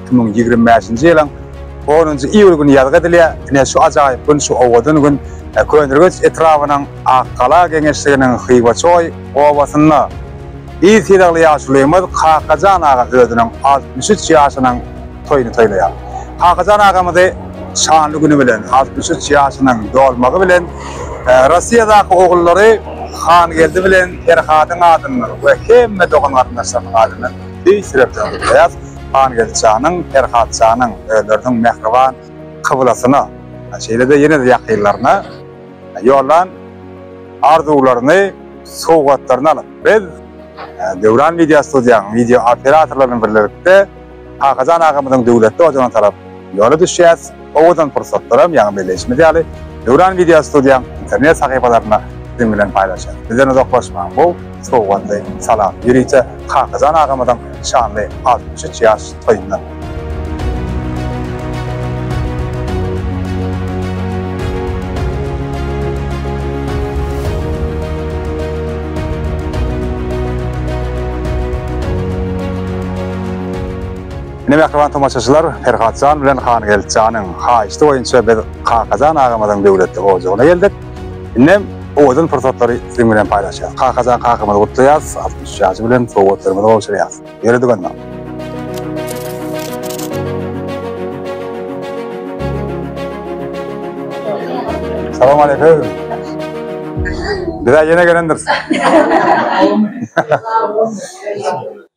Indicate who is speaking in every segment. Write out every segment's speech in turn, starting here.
Speaker 1: iki müň ýigrimi bäşinji ýylyň onunjy iýul güni ýazgy edilýär. Ine, şu ajaýyp gün, şu owadan gün Köneürgenç etrabynyň Akgala geňeşliginiň Hywaçoý obasynda yz sylagly ýaşulymyz Kakajan aga özüniň altmyş üç ýaşynyň toýuny toýlaýar. Kakajan agamyzy şanly güni bilen, altmyş üç ýaşynyň dolmagy bilen Rossiýadaky ogullary Hangeldi bilen Perhadyň adyndan we hemme dogan-garyndaşlarynyň adyndan tüýs ýürekden gutlaýarys. Hangeldi janyň, Perhat janyň özleriniň mähriban kyblasyna, şeýle-de ýene-de ýakynlaryna ýollan arzuwlaryny, sowgatlaryny alyp, biz Döwran Media Studiýanyň wideo operatorlary bilen birlikde Kakajan agamyzyň döwletli ojagyna tarap ýola düşýäs. owadan pursatlaram ýaňy belleýşimiz ýaly Döwran Video Studiýaň internet sahypalarynda siziň bilen paýlaşýarys. Bizden uzaklaşmaň bu sowgatly salamy ýörite Kakajan agamyzyň şanly altmyş üç ýaş toýundan. Ine mähriban tomaşaçylar, Perhatjan bilen Hangeltjanyň haýyşdy boýunça biz Kakajan agamyzyň döwletli ojagyna geldik. Indem owadan pursatlary siziň bilen paýlaşýas. Kakajan kakamyzy gutlaýas, altmyş üç ýaşy bilen sowgatlarymyzy gowşurýas. Ýöre dykynma. Salam aleýkum. Bizä ýene gelendiris.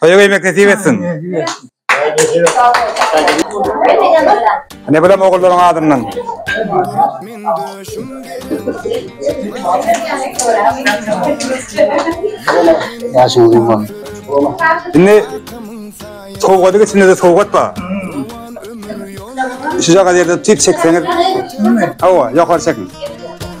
Speaker 1: Toýa gelmek nesip etsin. Ne bilen ogullaryň adyndan. Indi sowgady geçinde de sowgat bar. Şuja gadyr da tüýt çekseňiz. Hawa, ýokary çekiň.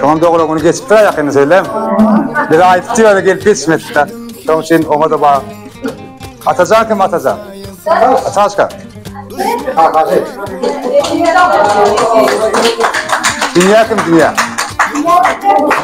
Speaker 1: Şoňam dogry güni geçip dur ýakynda söýlem. Bir aýdyp diýýär gelip geçmedi-de. Şoň üçin oňa da bar. Atajan kim Atajan? Ataşka. Dünýä kim dünýä?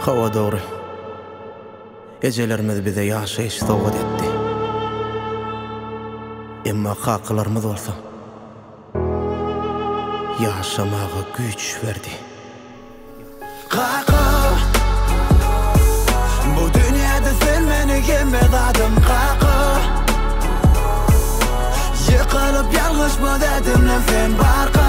Speaker 2: Hawa dogry. Ejelerimiz bize ýaşaýyş sowgat etdi. Emma kakalarymyz bolsa ýaşamaga güýç berdi. Kaka! Bu dünýäde sen meniň
Speaker 3: hemme zadym, kaka! Ýykylyp ýalňyşma dädimden sen barka!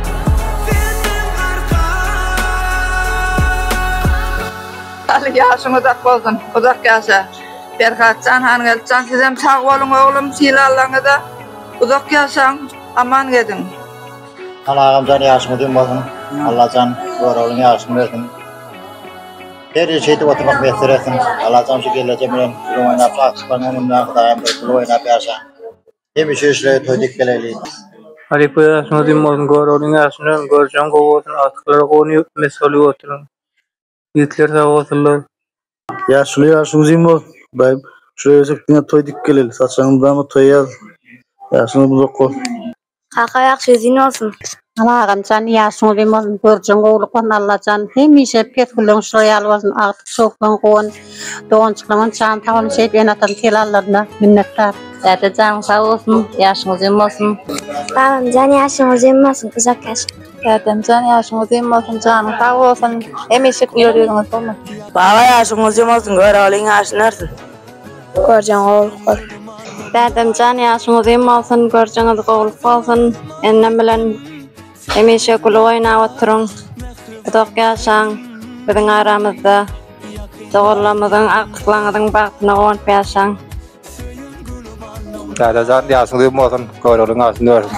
Speaker 4: Aly ýaşyň uzak bolsun uzak ýaşa Perhatjan Hangeltjan sizem sag boluň oglum sylallaryňyza uzak ýaşaň aman geziň. Aly
Speaker 5: agamjan ýaşyň uzyn bolsun Allajan göroglyň ýaşyny bersin her işi edip oturmak miýesser etsin Allajan şu geleje bilen gül oýnap şatlyklarňa münme Hudaýym bir gül oýnap ýaşa. Hemişe işleri toý dek geleli. Halypa
Speaker 6: ýaşyň uzyn bolsun Göroglyň ýaşyny hem görjeň gowy bolsun agtyklara gowy mes bolup oturyň ýigitler sag bolsunlar. Ýaşuly
Speaker 7: ýaşyň uzyn bolsun daýym şular öýsek diňe toý dik geleli saçagyňy mydama toýa ýaz ýaşyň uzak bolsun. Kaka ýaşy
Speaker 8: uzyn bolsun. Salam agamjan
Speaker 9: ýaşyňyz uzyn bolsun görjeň gowulyk bolsun Allajan hemişe pesgülleň şular ýaly bolsun agtyk çowuklan gowan doganjyklaňam jan sag bolsun şeýdip ene atanyň telallarynda minnetdar. Däde janyň sag
Speaker 8: bolsun ýaşyň uzyn bolsun. Babamjan
Speaker 10: ýaşyň uzyn bolsun uzak ýaşa. Dädemjan ýaşyň
Speaker 8: uzyn bolsun janyň sag bolsun hemişe güler ýüzüňiz bolmasyn. Baba ýaşyň
Speaker 4: uzyn bolsun Göroglyň ýaşyny örsün. Görjeň
Speaker 10: gowulyk bolsun. Bädemjan
Speaker 8: ýaşyň uzyn bolsun görjeňiz gowulyk bolsun Enem bilen hemişe gülüp oýnap oturyň uzak ýaşaň biziň aramyzda doganlarymyzyň agtyklaňyzyň bagtyna gowanyp ýaşaň.
Speaker 1: Dädejan ýaşyň uzyn bolsun göroglyň artyn örsün.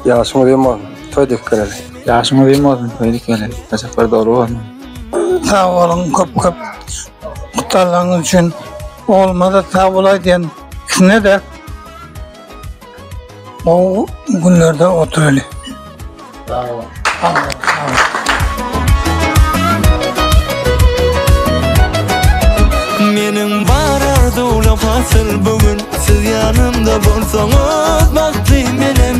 Speaker 1: Ýaşyň
Speaker 7: uzyn bolsun toý dek geleli. Ýaşyň uzyn bolsun
Speaker 6: toý dek geleli saçaklar doly bolsun. Sag
Speaker 11: boluň köp köp Mutallygyňyz üçin oglumaza sag bolaý diýen ikisine de gowy günlerde oturaly.
Speaker 5: Sag bol.
Speaker 3: Meniň bar arzuwlarym hasyl bugün siz ýanymda bolsaňyz bagtly menem.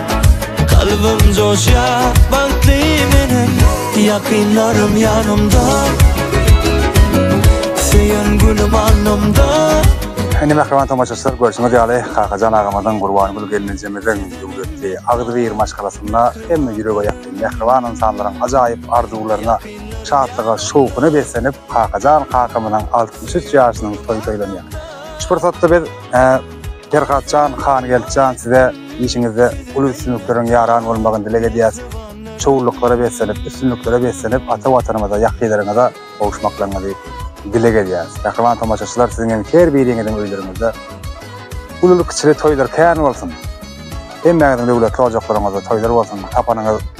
Speaker 3: Kalbim coşya bagtly menem Yakınlarım yanımda Seyen gülüm alnımda Indi mähriban
Speaker 1: tomaşaçylar görşüňiz ýaly Kakajan agamyzyň Gurbangül gelnejemiziň döwletli agzybir maşgalasynda hemme ýürege ýakyn mähriban ynsanlaryň ajaýyp arzuwlaryna, şatlyga, şowhuna beslenip Kakajan kakamyzyň altmyş üç ýaşynyň toýy toýlanýar. Şu pursatda biz Perhatjan Hangeldjan size işiňizde uly üstünlikleriň ýaran bolmagyny dileg edýäs. Şowlulyklara beslenip, üstünliklere beslenip ata Watanymyza, ýakynlaryňyza gowuşmaklaryňyzy dileg edýäs. Mähriban tomaşaçylar siziň hem her biriňiziň öýleriňizde ululy-kiçili toýlar kän bolsun. Hemmäňiziň döwletli ojaklaryňyzda toýlar bolsun. Tapanyňyz